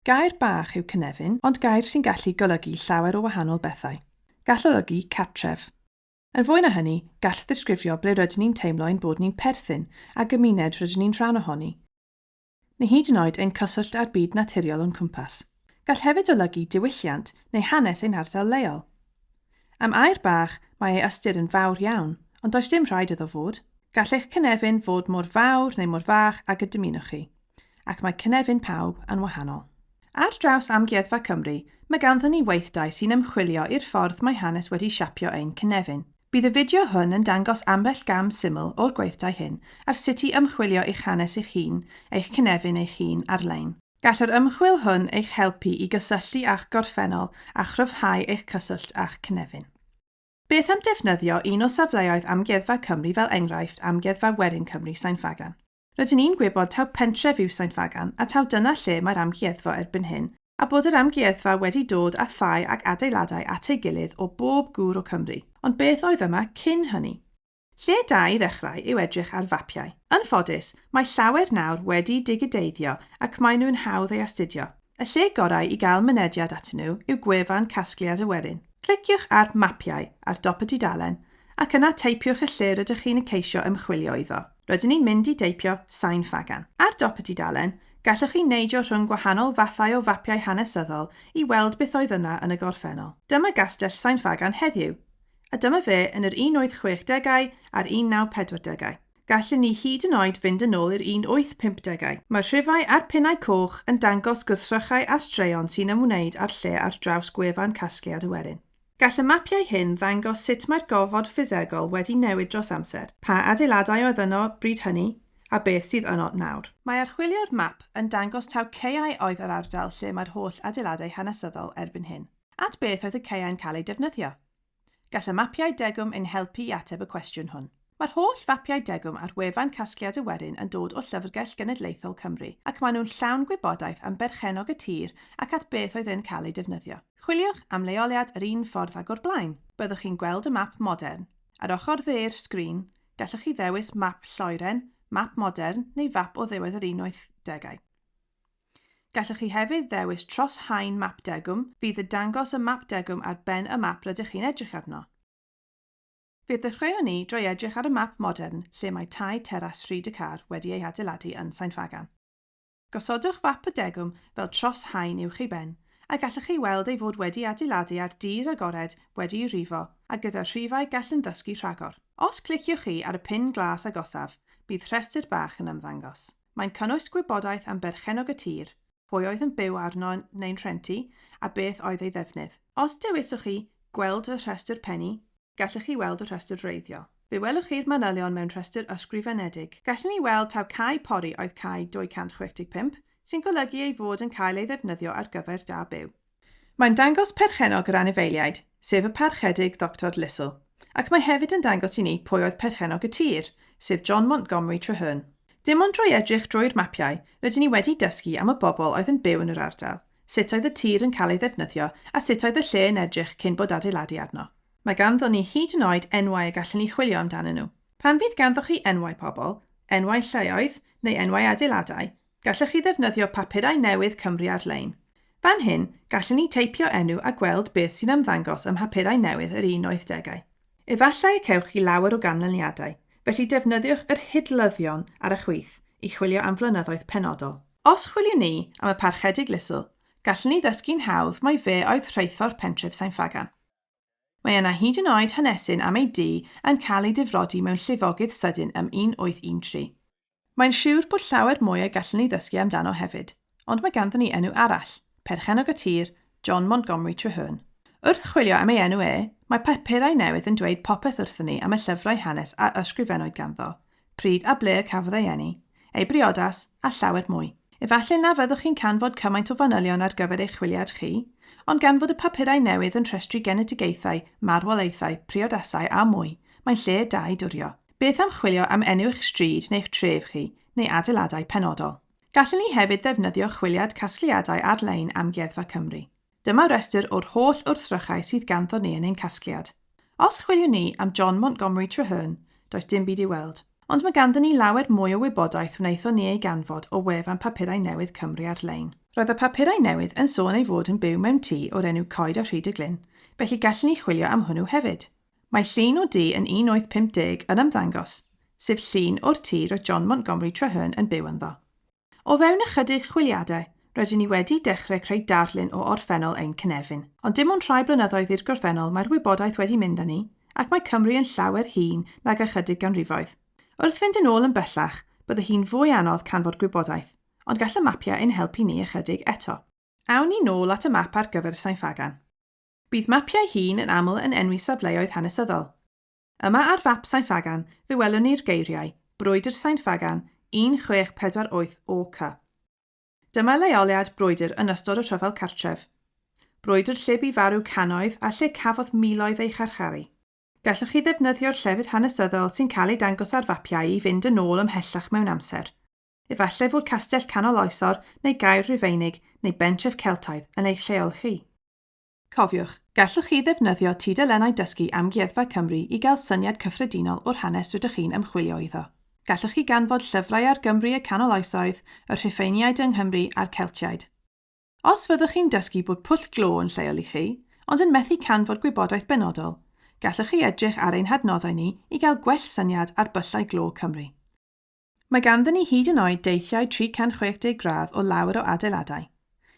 Gair bach yw cynefin, ond gair sy'n gallu golygu llawer o wahanol bethau. Gall olygu cartref. Yn fwy na hynny, gall ddisgrifio ble rydyn ni'n teimlo ein bod ni'n perthyn, a gymuned rydyn ni'n rhan ohoni, neu hyd yn oed ein cyswllt â'r byd naturiol o'n cwmpas. Gall hefyd olygu diwylliant neu hanes ein hardal leol. Am air bach, mae ei ystyr yn fawr iawn, ond does dim rhaid iddo fod. Gall eich cynefin fod mor fawr neu mor fach ag y dymunwch chi, ac mae cynefin pawb yn wahanol. Ar draws Amgueddfa Cymru, mae ganddyn ni weithdai sy'n ymchwilio i'r ffordd mae hanes wedi siapio ein cynefin. Bydd y fideo hwn yn dangos ambell gam syml o'r gweithdai hyn ar sut i ymchwilio i'ch hanes eich hun, eich cynefin eich hun, ar-lein. Gall yr ymchwil hwn eich helpu i gysylltu â'ch gorffennol a chryfhau eich cyswllt â'ch cynefin. Beth am defnyddio un o safleoedd Amgueddfa Cymru fel enghraifft Amgueddfa Werin Cymru Sain Ffagan? Rydyn ni'n gwybod taw pentref yw Sain Ffagan a taw dyna lle mae'r amgueddfa erbyn hyn a bod yr amgueddfa wedi dod â thai ac adeiladau at ei gilydd o bob gŵr o Cymru, ond beth oedd yma cyn hynny? Lle da i ddechrau yw edrych ar fapiau. Yn ffodus, mae llawer nawr wedi digideiddio ac maen nhw'n hawdd ei astudio. Y lle gorau i gael mynediad atyn nhw yw gwefan Casgliad y Werin. Cliciwch ar 'Mapiau' ar dop y dudalen ac yna teipiwch y lle rydych chi'n y ceisio ymchwilio iddo. Rydyn ni'n mynd i deipio 'Sain Ffagan'. Ar dop y dudalen, gallwch chi neidio rhwng gwahanol fathau o fapiau hanesyddol i weld beth oedd yna yn y gorffennol. Dyma Gastell Sain Ffagan heddiw. A dyma fe yn yr 1860au a'r 1940au. Gallen ni hyd yn oed fynd yn ôl i'r 1850au. Mae'r rhifau a'r pinnau coch yn dangos gwrthrychau a straeon sy'n ymwneud â'r lle ar draws gwefan Casgliad y Werin. Gall y mapiau hyn ddangos sut mae'r gofod ffisegol wedi newid dros amser, pa adeiladau oedd yno bryd hynny, a beth sydd yno nawr. Mae archwilio'r map yn dangos taw caeau oedd yr ardal lle mae'r holl adeiladau hanesyddol erbyn hyn. At beth oedd y caeau'n cael eu defnyddio? Gall y mapiau degwm ein helpu i ateb y cwestiwn hwn. Mae'r holl fapiau degwm ar wefan Casgliad y Werin yn dod o Llyfrgell Genedlaethol Cymru ac maen nhw'n llawn gwybodaeth am berchennog y tir ac at beth oedd e'n cael ei defnyddio. Chwiliwch am leoliad yr un ffordd ag o'r blaen. Byddwch chi'n gweld y map modern. Ar ochr dde'r sgrin, gallwch chi ddewis Map Lloeren, Map Modern neu Fap o Ddiwedd yr Unwaith Degau. Gallwch chi hefyd ddewis tros haen map degwm fydd y dangos y map degwm ar ben y map rydych chi'n edrych arno. Fe ddechreuwn ni drwy edrych ar y map modern lle mae tai teras Rhyd y Car wedi ei hadeiladu yn Sain Ffagan. Gosodwch fap y degwm fel tros haen uwch ei ben, a gallwch chi weld ei fod wedi adeiladu ar dir agored wedi'i rifo a gyda rhifau gall yn ddysgu rhagor. Os cliciwch chi ar y pin glas agosaf, bydd rhestr bach yn ymddangos. Mae'n cynnwys gwybodaeth am berchennog y tir, pwy oedd yn byw arno neu'n rhentu a beth oedd ei ddefnydd. Os dewiswch chi Gweld y rhestr pennu, gallwch chi weld y rhestr wreiddio. Fe welwch chi'r manylion mewn rhestr ysgrifenedig. Gallwn ni weld taw cae pori oedd cae 265, sy'n golygu ei fod yn cael ei ddefnyddio ar gyfer da byw. Mae'n dangos perchennog yr anifeiliaid, sef y Parchedig Ddoctor Lissell, ac mae hefyd yn dangos i ni pwy oedd perchennog y tir, sef John Montgomery Traherne. Dim ond drwy edrych drwy'r mapiau rydyn ni wedi dysgu am y bobl oedd yn byw yn yr ardal, sut oedd y tir yn cael ei ddefnyddio a sut oedd y lle yn edrych cyn bod adeiladu arno. Mae ganddo ni hyd yn oed enwau y gallwn ni chwilio amdanyn nhw. Pan fydd ganddoch chi enwau pobl, enwau lleoedd neu enwau adeiladau, Gallech chi ddefnyddio papurau newydd Cymru Ar-lein. Fan hyn, gallen ni teipio enw a gweld beth sy'n ymddangos ym mhapurau newydd yr un oed degau. Efallai y cewch chi lawer o ganlyniadau, felly defnyddiwch yr hidlyddion ar y chwith i chwilio am flynyddoedd penodol. Os chwiliwn ni am y Parchedig Lisl, gallen ni ddysgu'n hawdd mai fe oedd rheithor pentref Sain-Ffagan. Mae yna hyd yn oed hanesyn am ei dŷ yn cael ei ddifrodi mewn llifogydd sydyn ym 1813. Mae'n siwr bod llawer mwy y gallwn ni ddysgu amdano hefyd, ond mae ganddyn ni enw arall, perchennog y tir, John Montgomery Treherne. Wrth chwilio am ei enw e, mae papurau newydd yn dweud popeth wrthon ni am y llyfrau hanes a ysgrifennwyd ganddo, pryd a ble y cafodd ei eni, ei briodas, a llawer mwy. Efallai na fyddwch chi'n canfod cymaint o fanylion ar gyfer eich chwiliad chi, ond gan fod y papurau newydd yn rhestru genedigaethau, marwolaethau, priodasau a mwy, mae'n lle da i dwrio. Beth am chwilio am enw eich stryd neu'ch tref chi, neu adeiladau penodol? Gallwn ni hefyd ddefnyddio chwiliad casgliadau ar-lein Amgueddfa Cymru. Dyma restr o'r holl wrthrychau sydd ganddo ni yn ein casgliad. Os chwiliwn ni am John Montgomery Traherne, does dim byd i'w weld. Ond mae ganddyn ni lawer mwy o wybodaeth wnaethon ni ei ganfod o wefan Papurau Newydd Cymru ar-lein. Roedd y papurau newydd yn sôn ei fod yn byw mewn tŷ o'r enw Coed a Rhyd y Glyn, felly gallwn ni chwilio am hwnnw hefyd. Mae llun o dŷ yn 1850 yn ymddangos, sef llun o'r tŷ roedd John Montgomery Traherne yn byw ynddo. O fewn ychydig chwiliadau, rydyn ni wedi dechrau creu darlun o orffennol ein cynefin. Ond dim ond rhai blynyddoedd i'r gorffennol mae'r wybodaeth wedi mynd â ni, ac mae Cymru yn llawer hŷn nag ychydig ganrifoedd. Wrth fynd yn ôl yn bellach, bydde hi'n fwy anodd canfod gwybodaeth, ond gall y mapiau ein helpu ni ychydig eto. Awn ni nôl at y map ar gyfer y Sain Ffagan. Bydd mapiau hŷn yn aml yn enwi safleoedd hanesyddol. Yma ar fap Sain Ffagan fe welwn ni'r geiriau, Brwydr Sain Ffagan, 1648 OK. Dyma leoliad brwydr yn ystod y rhyfel cartref. Brwydr lle bu farw cannoedd a lle cafodd miloedd eu charcharu. Gallwch chi ddefnyddio'r llefydd hanesyddol sy'n cael eu dangos ar fapiau i fynd yn ôl ymhellach mewn amser. Efallai fod castell canol oesor neu gaer Rufeinig neu bentref Celtaidd yn eich lleol chi. Cofiwch, gallwch chi ddefnyddio tudalennau dysgu Amgueddfa Cymru i gael syniad cyffredinol o'r hanes rydych chi'n ymchwilio iddo. Gallwch chi ganfod llyfrau ar Gymru y Canol Oesoedd, y Rhufeiniaid yng Nghymru a'r Celtiaid. Os fyddwch chi'n dysgu bod pwll glo yn lleol i chi, ond yn methu canfod gwybodaeth benodol, gallwch chi edrych ar ein hadnoddau ni i gael gwell syniad ar byllau glo Cymru. Mae ganddyn ni hyd yn oed deithiau 360 gradd o lawer o adeiladau.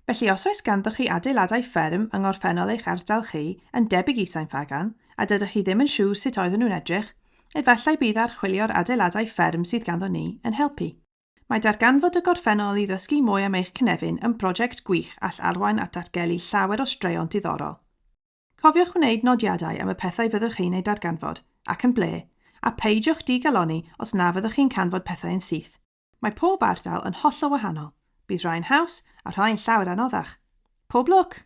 Felly os oes ganddoch chi adeiladau fferm yng ngorffennol eich ardal chi, yn debyg i Sain Ffagan, a dydych chi ddim yn siŵr sut oedden nhw'n edrych, efallai bydd archwilio'r adeiladau fferm sydd ganddo ni yn helpu. Mae darganfod y gorffennol i ddysgu mwy am eich cynefin yn brosiect gwych all arwain at ddatgelu llawer o straeon diddorol. Cofiwch wneud nodiadau am y pethau fyddwch chi'n eu darganfod, ac yn ble, a pheidiwch di-galonni os na fyddwch chi'n canfod pethau yn syth. Mae pob ardal yn hollol wahanol, bydd rhai'n haws a rhai'n llawer anoddach. Pob lwc!